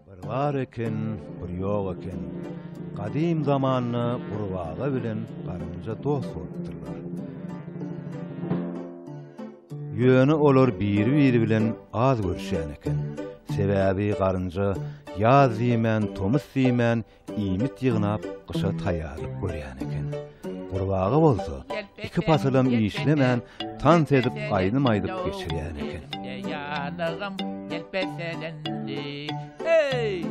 Bir bar eken, bir ýok eken. Gadym zamanda gurbaga bilen garynja dost bolupdyrlar. Ýöne olar biri-biri bilen az görüşýän eken. Sebäbi garynja ýaz diýmän, tomus diýmän, iýmit ýygnap gyşa taýýarlyk görýän eken. Gurbaga bolsa iki pasylam işlemän tans edip aýdym aýdyp geçirýän eken. Ýanygym gelpeselendi. Eý!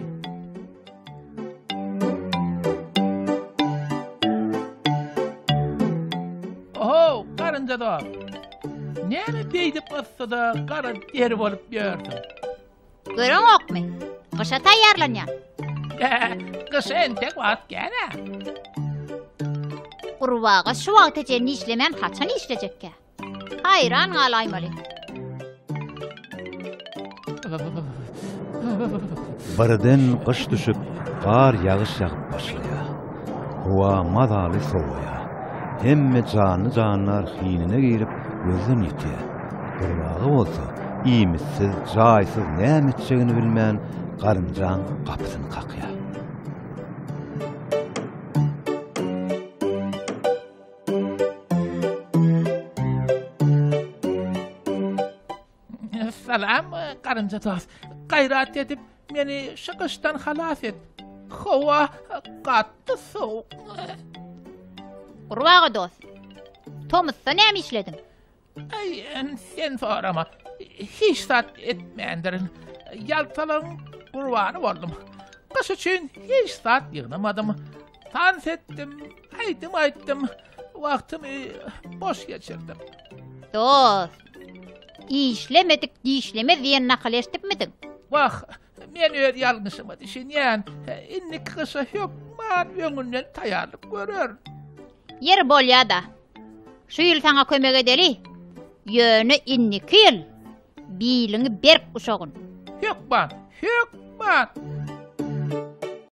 Näme beýdip yssyda gara deri bolup ýörsüň? Görüňokmy? Gyşa taýýarlanýan. Gyşa entek wagt gel-ä. Gurbaga şu wagta çenli işlemän haçan işlejekkä? Haýran galaýmaly. Birden gyş düşüp, gar ýagyş ýagyp başlaýar. Howa mazaly sowaýar. Hemme janly-jandar hinine girip, gözden ýitýär. Gurbaga bolsa, iýmitsiz, jaýsyz näme etjegini bilmän, garynjaň gapysyny kakýar. Salam, garynja dost. Gaýrat edip, meni şu gyşdan halas et. Howa gatdy sowuk. Gurbaga dost. Tomusda näme işlediň? Ay, sen sorama. Hiç zat etmändirin. Ýaltalyň gurbany boldum. Gyş üçin hiç zat ýygnamadym. Tans etdim, aýdym aýtdym. Wagtymy boş geçirdim. Dost, Işlemedik dişlemez diýen nakyly eşidipmidiň? Wah, men öz ýalňyşyma düşünýän. Indiki gyşa hökman öňünden taýýarlyk görerin. Ýeri bolýa-da. Şu ýyl saňa kömek edeli. Ýöne indiki ýyl biliňi berk uşagyn. Hökman, hökman!